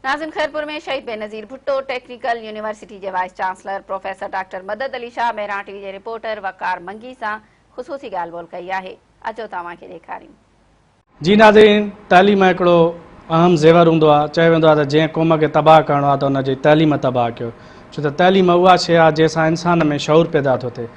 ناظم Khairpur ۾ Shaheed Benazir Bhutto technical university جي vice chancellor professor doctor Madad Ali Shah Mehran T V جي رپورٽر وقار منگي سان خصوصي ڳالهه ٻولهه ڪئي آهي اچو ته اوهان کي ڏيکاريون. جي ناظرين تعليم هڪڙو اهم زيور هوندو آهي چيو ويندو آهي ته جنهن قوم کي تباهه ڪرڻو آهي ته ان جي تعليم تباهه ڪيو ڇو ته تعليم اها شيء آهي جنهن سان انسان ۾ شعور پيدا ٿو ٿئي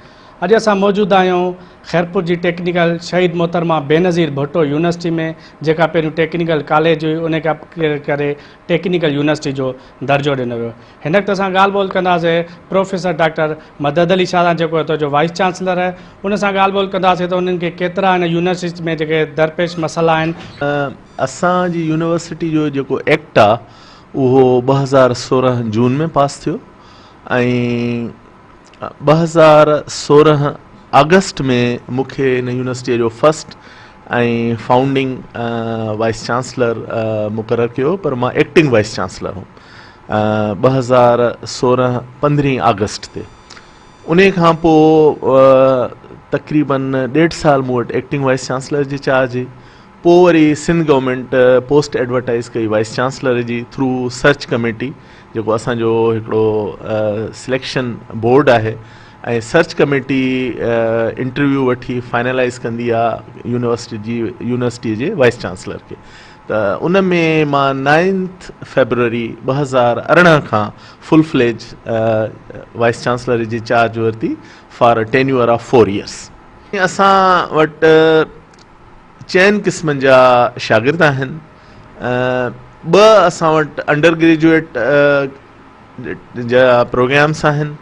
اڄ اسان موجود آهيون خيرپور جي ٽيڪنيڪل شهيد محترمه بينظير ڀٽو يونيورسٽي ۾ جيڪا پهريون ٽيڪنيڪل ڪاليج هئي ان کي اپگريڊ ڪري ٽيڪنيڪل يونيورسٽي جو درجو ڏنو ويو هن وقت اسان ڳالهه ٻولهه ڪنداسين پروفيسر ڊاڪٽر مدد علي شاهه سان جيڪو هتو جو وائيس چانسلر آهي ان سان ڳالهه ٻولهه ڪنداسين ته انهن کي ڪيترا هن يونيورسٽي ۾ جيڪي درپيش مسئلا آهن اسان جي يونيورسٽي جو جيڪو ايڪٽ آهي اهو ٻه هزار سورهن جون ۾ پاس ٿيو ۽ ٻه هزار سورهن آگسٽ ۾ مون کي هن يونيورسٽيء جو فرسٽ ۽ فائونڊنگ وائيس چانسلر مقرر ڪيو پر مان ايڪٽنگ وائيس چانسلر هوم ٻه هزار سورهن پندرهين آگسٽ تي ان کان پوء تقريبن ڏيڍ سال مون وٽ ايڪٽنگ وائيس چانسلر جي چارج هئي پوء وري سنڌ گورنمينٽ پوسٽ ايڊورٽائيز ڪئي وائيس چانسلر جي ٿرو سرچ ڪميٽي جيڪو اسان جو هڪڙو سليڪشن بورڊ آهي ۽ سرچ ڪميٽي انٽرويو وٺي فائنلائيز ڪندي آ يونيورسٽي جي يونيورسٽي جي وائيس چانسلر کي ته ان ۾ مان نائنٿ فيبروري ٻه هزار ارڙهن کان فل فليج وائيس چانسلر جي چارج ورتي for tenure of four years اسان وٽ چئن قسمن جا شاگرد آهن، ٻه اسان وٽ انڊر گريجوئيٽ جا پروگرامس آهن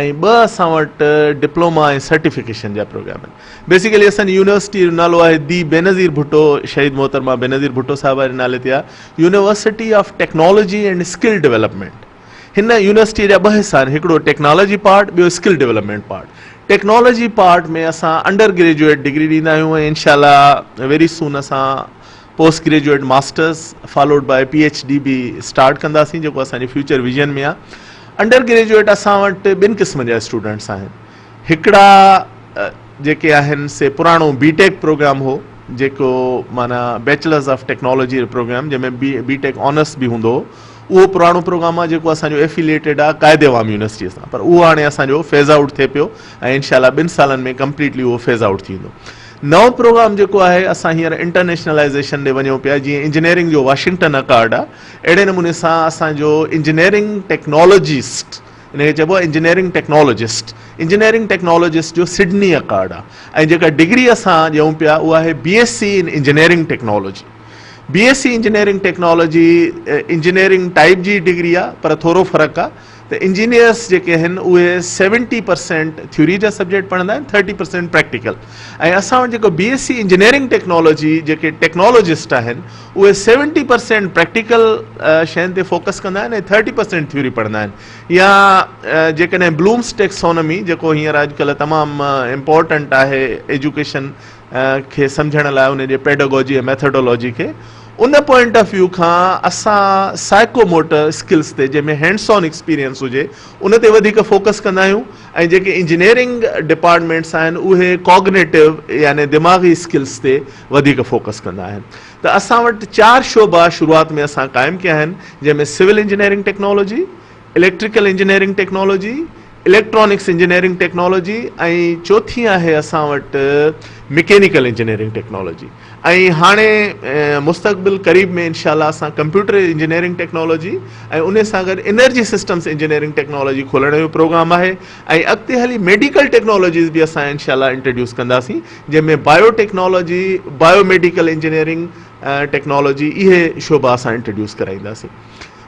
۽ ٻه اسان وٽ ڊپلوما ۽ سرٽيفڪيشن جا پروگرام آهن. بيسيڪلي اسان جي يونيورسٽي جو نالو آهي دي بينظير ڀٽو شهيد محترمه بينظير ڀٽو صاحبه جي نالي تي آهي university of technology and skill development. هن يونيورسٽيء جا ٻه حصا آهن، هڪڙو ٽيڪنالاجي پارٽ، ٻيو skill development part. Technology part ۾ اسان انڊر گريجوئيٽ ڊگري ڏيندا آهيون ۽ انشاء الله ويري سون اسان post graduate masters followed by P H D به اسٽارٽ ڪنداسين جيڪو اسان جي فيوچر ويزن ۾ آهي. انڊر گريجوئيٽ اسان وٽ ٻن قسمن جا اسٽوڊنٽس آهن. هڪڙا جيڪي آهن سي پراڻو بي ٽيڪ پروگرام هو جيڪو معنيٰ بيچلرس آف ٽيڪنالاجي پروگرام جنهن ۾ بي ٽيڪ آنرس به هوندو هو. اهو پراڻو پروگرام آهي جيڪو اسان جو ائفيليٽيڊ آهي قائد عوام يونيورسٽيء سان پر اهو هاڻي اسان جو فيز آئوٽ ٿئي پيو ۽ انشاء الله ٻن سالن ۾ ڪمپليٽلي اهو فيز آئوٽ ٿي ويندو. نئون پروگرام جيڪو آهي اسان هينئر انٽرنيشنلائيزيشن ڏي وڃون پيا جيئن انجنيئرنگ جو واشنگٽن اڪارڊ آهي اهڙي نموني سان اسان جو انجنيئرنگ ٽيڪنالاجسٽ ان کي چئبو آهي انجنيئرنگ ٽيڪنالاجسٽ انجنيئرنگ ٽيڪنالاجسٽ جو سڊني اڪارڊ آهي ۽ جيڪا ڊگري اسان ڏيون پيا اها آهي B S C in engineering technology. B S C engineering technology engineering type جي ئي ڊگري آ پر ٿورو فرق آ ته انجنيئرس جيڪي آهن اهي سيونٽي پرسينٽ ٿيوري جا سبجيڪٽ پڙهندا آهن ٿرٽي پرسينٽ پريڪٽيڪل ۽ اسان وٽ جيڪو B S C engineering technology جيڪي ٽيڪنالاجسٽ آهن اهي سيونٽي پرسينٽ پريڪٽيڪل شين تي فوڪس ڪندا آهن ۽ ٿرٽي پرسينٽ ٿيوري پڙهندا آهن يا جيڪڏهن بلومس ٽيڪسونمي جيڪو هينئر اڄڪلهه تمام امپورٽنٽ آهي ايجوڪيشن کي سمجهڻ لاء ان جي پيڊاگوجي ۽ ميٿوڊالاجي کي ان پوائنٽ آف ويو کان اسان سائيڪو موٽر اسڪلس تي جنهن ۾ هينڊس آن ايڪسپيرينس هجي ان تي وڌيڪ فوڪس ڪندا آهيون ۽ جيڪي انجنيئرنگ ڊپارٽمينٽس آهن اهي ڪاگنيٽو يعني دماغي اسڪلس تي وڌيڪ فوڪس ڪندا آهن ته اسان وٽ چار شعبا شروعات ۾ اسان قائم ڪيا آهن جنهن ۾ civil engineering technology electrical engineering technology, electronics engineering technology ۽ چوٿين آهي اسان وٽ مڪينيڪل انجنيئرنگ ٽيڪنالاجي ۽ هاڻي مستقبل قريب ۾ انشاء الله اسان ڪمپيوٽر انجنيئرنگ ٽيڪنالاجي ۽ ان سان گڏ انرجي سسٽمز انجنيئرنگ ٽيڪنالاجي کولڻ جو پروگرام آهي ۽ اڳتي هلي ميڊيڪل ٽيڪنالاجيز به اسان انشاء الله انٽروڊيوس ڪنداسين جنهن ۾ biotechnology biomedical engineering technology اهي شعبا اسان انٽروڊيوس ڪرائينداسين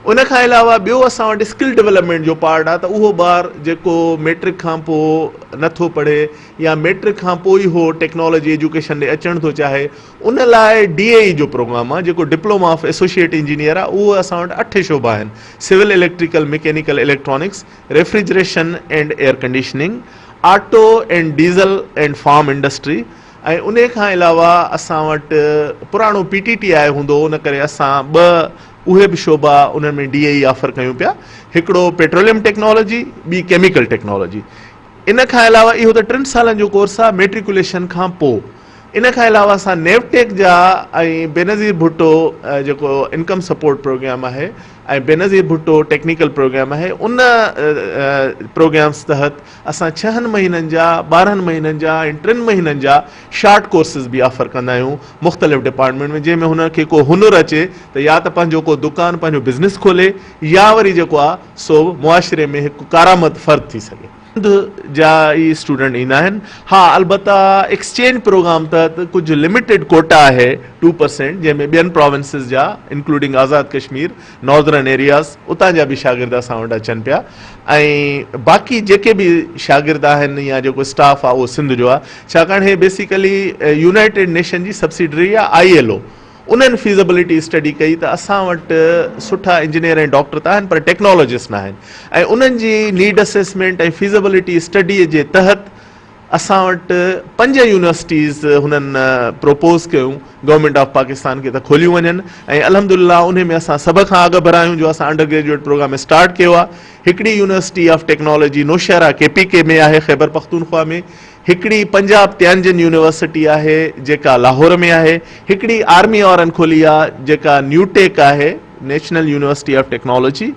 ان کان علاوه ٻيو اسان وٽ اسڪل ڊولپمينٽ جو پارٽ آهي ته اهو ٻار جيڪو ميٽرڪ کان پوء نٿو پڙهي يا ميٽرڪ کان پوء ئي هو ٽيڪنالاجي ايجوڪيشن ڏي اچڻ ٿو چاهي ان لاء ڊي اي اي جو پروگرام آهي جيڪو ڊپلوما آف ايسوسيئيٽ انجنيئر آهي اهو اسان وٽ اٺ شعبا آهن civil electrical mechanical electronics refrigeration and air conditioning auto and diesel and farm industry ۽ انهي کان علاوه اسان وٽ پراڻو پي ٽي ٽي آء هوندو هو ان ڪري اسان ٻه اهي به شعبا انهن ۾ ڊي اي اي آفر ڪيون پيا، هڪڙو پيٽروليم ٽيڪنالاجي، ٻي ڪيميڪل ٽيڪنالاجي. ان کان علاوه اهو ته ٽن سالن جو ڪورس آهي ميٽريڪوليشن کان پوء. ان کان علاوه اسان نيو ٽيڪ جا ۽ بينظير ڀٽو جيڪو انڪم سپورٽ پروگرام آهي ۽ بينظير ڀٽو ٽيڪنيڪل پروگرام آهي ان پروگرامز تحت اسان ڇهن مهينن جا، ٻارهن مهينن جا ۽ ٽن مهينن جا شارٽ ڪورسز به آفر ڪندا آهيون مختلف ڊپارٽمينٽ ۾ جنهن ۾ هن کي ڪو هنر اچي ته يا ته پنهنجو ڪو دڪان پنهنجو بزنس کولي يا وري جيڪو آهي سو معاشري ۾ هڪ ڪارآمد فرد ٿي سگهي. سنڌ جا ئي اسٽوڊنٽ ايندا آهن ها البته ايڪسچينج پروگرام تحت ڪجهه لميٽيڊ ڪوٽا آهي ٽو پرسينٽ جنهن ۾ ٻين پراونسز جا انڪلوڊنگ آزاد ڪشمير ناردرن ايرياز اتان جا به شاگرد اسان وٽ اچن پيا ۽ باقي جيڪي به شاگرد آهن يا جيڪو اسٽاف آهي اهو سنڌ جو آهي ڇاڪاڻ هي بيسيڪلي يونائيٽيڊ نيشن جي سبسڊري آهي آئي ايل او انهن فيزبلٽي اسٽڊي ڪئي ته اسان وٽ سٺا انجنيئر ۽ ڊاڪٽر ته آهن پر ٽيڪنالاجسٽ ناهن ۽ انهن جي نيڊ اسيسمينٽ ۽ فيزبلٽي اسٽڊي جي تحت اسان وٽ پنج يونيورسٽيز هنن پروپوز ڪيون گورنمينٽ آف پاڪستان کي ته کوليون وڃن ۽ الحمد لله انهي ۾ اسان سڀ کان اڳ ڀر آهيون جو اسان انڊر گريجوئيٽ پروگرام اسٽارٽ ڪيو آهي هڪڙي university of technology Nowshera K P K ۾ آهي خيبر پختونخوا ۾ هڪڙي پنجاب تيانجن يونيورسٽي آهي جيڪا لاهور ۾ آهي هڪڙي آرمي وارن کولي آهي جيڪا نيوٽيڪ آهي نيشنل يونيورسٽي آف ٽيڪنالاجي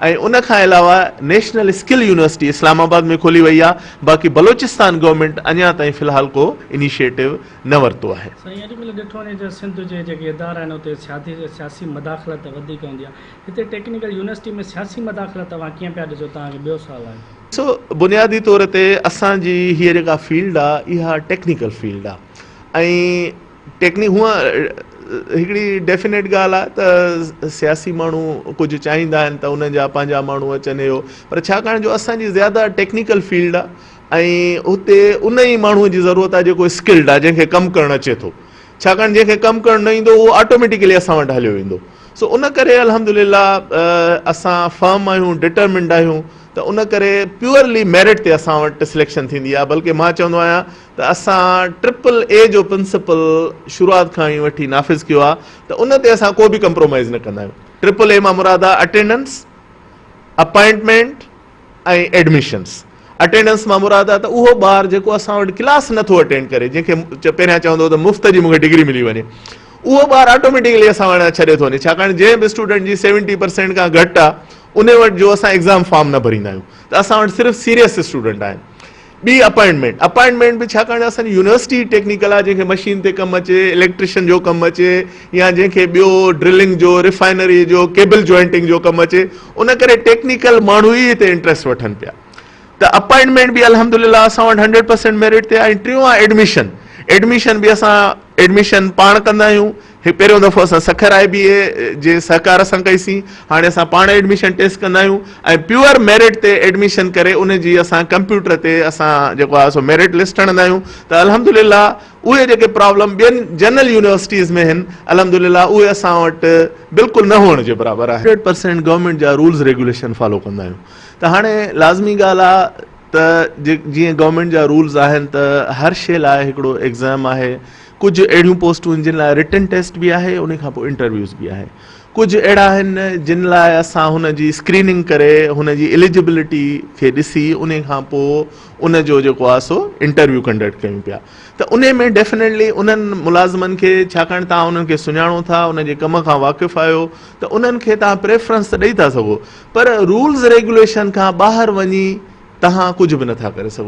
۽ ان کان علاوه National Skill University Islamabad ۾ کولي وئي آهي باقي بلوچستان گورنمينٽ اڃا تائين في الحال ڪو انيشيٽو نه ورتو آهي. سائين اڄ ڪلهه ڏٺو وڃي ته سنڌ جي جيڪي ادارا آهن اتي سيادي سياسي مداخلت وڌيڪ هوندي آهي هتي ٽيڪنيڪل يونيورسٽي ۾ سياسي مداخلت توهان ڪيئن پيا ڏسو توهان کي ٻيو سوال آهي. ڏسو بنيادي طور تي اسان جي هيء جيڪا فيلڊ آهي اها ٽيڪنيڪل فيلڊ آهي ۽ ٽيڪنيڪ هونئن هڪڙي ڊيفنيٽ ڳالهه آهي ته سياسي ماڻهو ڪجهه چاهيندا آهن ته انهن جا پنهنجا ماڻهو اچن اهو پر ڇاڪاڻ جو اسان جي زياده ٽيڪنيڪل فيلڊ آهي ۽ اتي ان ئي ماڻهو جي ضرورت آهي جيڪو اسڪلڊ آهي جنهن کي ڪم ڪرڻ اچي ٿو ڇاڪاڻ جنهن کي ڪم ڪرڻ نه ايندو اهو آٽوميٽيڪلي اسان وٽ هليو ويندو سو ان ڪري الحمد لله اسان فرم آهيون ڊٽرمنڊ آهيون ته ان ڪري پيورلي ميرٽ تي اسان وٽ سليڪشن ٿيندي آهي بلڪه مان چوندو آهيان ته اسان ٽرپل اي جو پرنسپل شروعات کان ئي وٺي نافذ ڪيو آهي ته ان تي اسان ڪو به ڪمپرومائيز نه ڪندا آهيون. ٽرپل اي مان مراد آهي اٽينڊنس، اپائنٽمينٽ ۽ ايڊميشنس. اٽينڊنس مان مراد آهي ته اهو ٻار جيڪو اسان وٽ ڪلاس نه ٿو اٽينڊ ڪري، جنهن کي پهريان چوندو هو ته مفت جي مون کي ڊگري ملي وڃي، اهو ٻار آٽوميٽڪلي اسان وٽان ڇڏي ٿو وڃي ڇاڪاڻ جنهن به اسٽوڊنٽ جي سيونٽي پرسينٽ کان گهٽ آهي ان وٽ جو اسان ايگزام فارم نه ڀريندا آهيون ته اسان وٽ صرف سيريس اسٽوڊنٽ آهن. ٻي اپائنٽمينٽ اپائنٽمينٽ به ڇاڪاڻ جو اسان جي يونيورسٽي ٽيڪنيڪل آهي جنهن کي مشين تي ڪم اچي اليڪٽريشن جو ڪم اچي يا جنهن کي ٻيو ڊرلنگ جو ريفائنري جو ڪيبل جوائنٽنگ جو ڪم اچي ان ڪري ٽيڪنيڪل ماڻهو ئي هتي انٽرسٽ وٺن پيا ته اپائنٽمينٽ به الحمدلله اسان وٽ هنڊريڊ پرسينٽ ميرٽ تي آهي ٽيون آهي ايڊميشن ايڊميشن به اسان ايڊميشن پاڻ ڪندا آهيون هي پهريون دفعو اسان سکر آء بي اي جي سهڪار سان ڪئي سين، هاڻي اسان پاڻ ايڊميشن ٽيسٽ ڪندا آهيون ۽ پيور ميرٽ تي ايڊميشن ڪري ان جي اسان ڪمپيوٽر تي اسان جيڪو آهي سو ميرٽ لسٽ هڻندا آهيون ته الحمدلله اهي جيڪي پرابلم ٻين جنرل يونيورسٽيز ۾ هن الحمدلله اهي اسان وٽ بلڪل نه هئڻ جي برابر آهن. هنڊريڊ پرسينٽ گورنمينٽ جا رولز ريگوليشن فالو ڪندا آهيون ته هاڻي لازمي ڳالهه آهي ته جي جيئن گورنمينٽ جا رولز آهن ته هر شي لاء هڪڙو ايگزام آهي ڪجهه اهڙيون پوسٽون آهن جن لاء رٽن ٽيسٽ به آهي ان کانپوء انٽرويوز به آهي ڪجهه اهڙا آهن جن لاء اسان هن جي اسڪريننگ ڪري هن جي اليجبلٽي کي ڏسي ان کانپوء ان جو جيڪو آهي سو انٽرويو ڪنڊڪٽ ڪيون پيا ته ان ۾ ڊيفنيٽلي انهن ملازمن کي ڇاڪاڻ تان انهن کي سڃاڻو ٿا ان جي ڪم کان واقف آهيو ته انهن کي تان پريفرنس ته ڏئي ٿا سگهو پر رولز ريگوليشن کان ٻاهر وڃي تان ڪجهه به نٿا ڪري سگهو